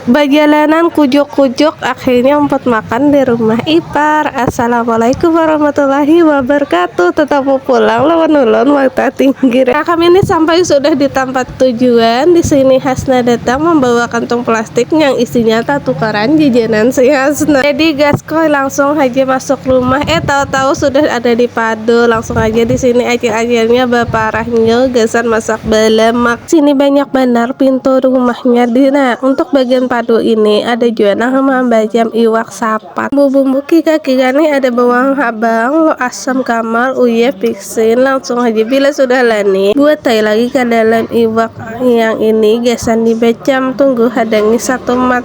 Bajalanan kujuk-kujuk akhirnya umpat makan di rumah ipar. Assalamualaikum warahmatullahi wabarakatuh. Tetamu pulang lawan ulun mata tinggi. Nah, kami ini sampai sudah di tampat tujuan. Di sini Hasna datang membawa kantung plastik yang isinya tatukaran jajanan si Hasna. Jadi gaskoi langsung haja masuk rumah. Eh, tahu-tahu sudah ada di padu. Langsung haja di sini acil-acilnya baparah nyu gasan masak bala makanan. Sini banyak banar pintu rumahnya di nah untuk bagian padu ini ada jua nah mambajam iwak sapat bumbu-bumbu kira-kira nih ada bawang habang lo asam kamar uye fixin langsung aja bila sudah lani buat tai lagi ke dalam iwak yang ini gasan dibajam tunggu hadangi satu mat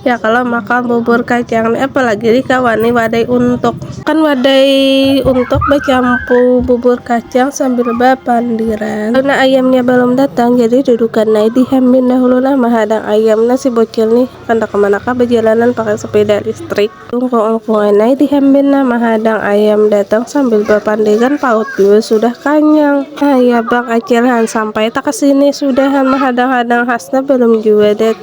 Ya kalo makan bubur kacang ni apalagi Rika wani wadai untuk. Kan wadai untuk bacampur bubur kacang sambil bapandiran. Karena ayamnya balum datang jadi dudukan ai di hembin dahulu nah mahadang ayam nah si bocil nih kada kamanakah bajalanan pakai sepeda listrik. Lungkung-lungkungan ai di hembin nah mahadang ayam datang sambil bapandiran paut jua sudah kanyang. Nah ya bang acil han sampai ta kesini sudah han mahadang-hadang hasna balum jua datang.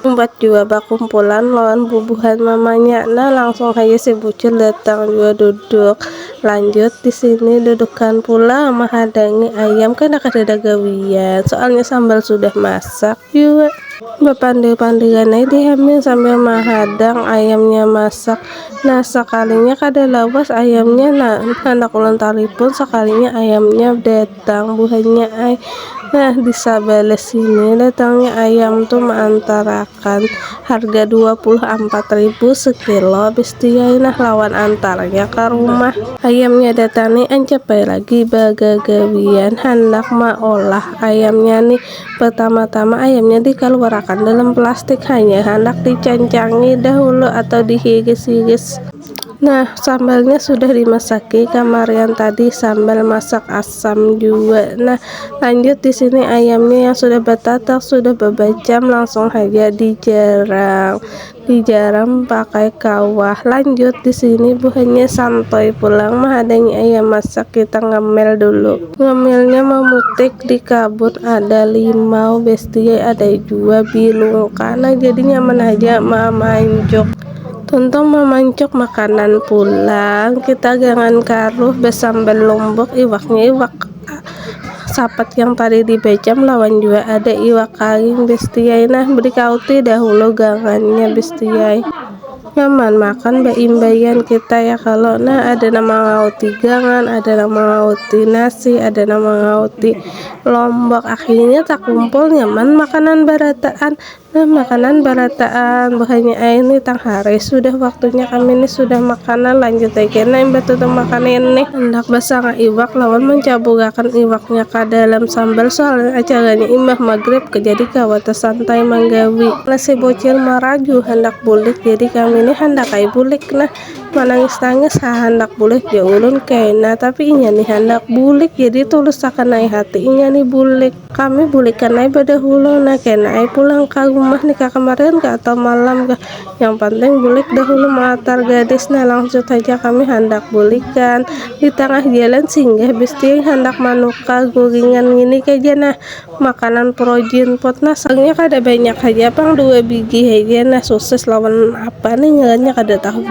Umpat jua bakumpulan lawan bubuhan mamanya nah langsung haja si bucil datang jua duduk. Lanjut di sini dudukan pulang mahadangi ayam kada kadada gawian soalnya sambal sudah masak jua. Bapandir-pandiran ai di hamin sambil mahadang ayamnya masak. Nah sakalinya kada lawas ayamnya nah handak ulun talipun sakalinya ayamnya datang. Datang buhannya ai. Nah, di sabalah sini datangnya ayam tu maantarakan harga dua puluh ampat ribu sekilo habis tu yai nah lawan antarnya ka rumah. Ayamnya datang ni ancap ai lagi bagagawian handak maolah ayamnya ni. Pertama-tama ayamnya dikaluarakan dalam plastik hanya handak dicancangi dahulu atau dihiris-hiris. Nah, sambalnya sudah dimasaki kamarian tadi sambal masak asam juga. Nah, lanjut di sini ayamnya yang sudah batatak sudah babajam langsung saja dijarang. Dijarang pakai kawah. Lanjut di sini buhannya santai pulang mahadangi ayam masak kita ngemil dulu. Ngemilnya memutik di kabut ada limau besti ada jua bilungka. Nah, jadi nyaman aja mamanjuk. Tuntung mamancuk makanan pulang, kita gangan karuh basambal lombok, iwaknya iwak sapat yang tadi di bacam lawan jua ada iwak kaling bestiai nah beri kauti dahulu gangannya bestiai nyaman makan baimbaian kita ya kalo nah ada nang mangauti gangan ada nang mangauti nasi ada nang mangauti lombok akhirnya takumpul nyaman makanan barataan Nah, makanan barataan buhannya air ini tang hari sudah waktunya kami ini sudah makanan lanjut lagi nah imbah tu tang makan ini hendak basanga iwak lawan mancabugakan iwaknya ka dalam sambal soalnya acaranya imbah maghrib jadi kawa tasantai manggawi nah si bocil maraju handak bulik jadi kami ini handak ai bulik nah manangis-nangis ha handak bulik ja ulun kena tapi inya ni handak bulik jadi tulus sakana ai hati inya ni bulik Kami bulikan ai badahulu nah kena ai pulang ka rumah nih ka kemarian kah atau malam kah yang penting bulik dahulu melatar gadis nah langsut haja kami handak bulikan di tangah jalan singgah bestiing handak manukar guringan ngini kaja nah makanan projean pot nah sarangnya kada banyak haja pang dua bigi haja nah sosis lawan apa nih ngarannya kada tahu.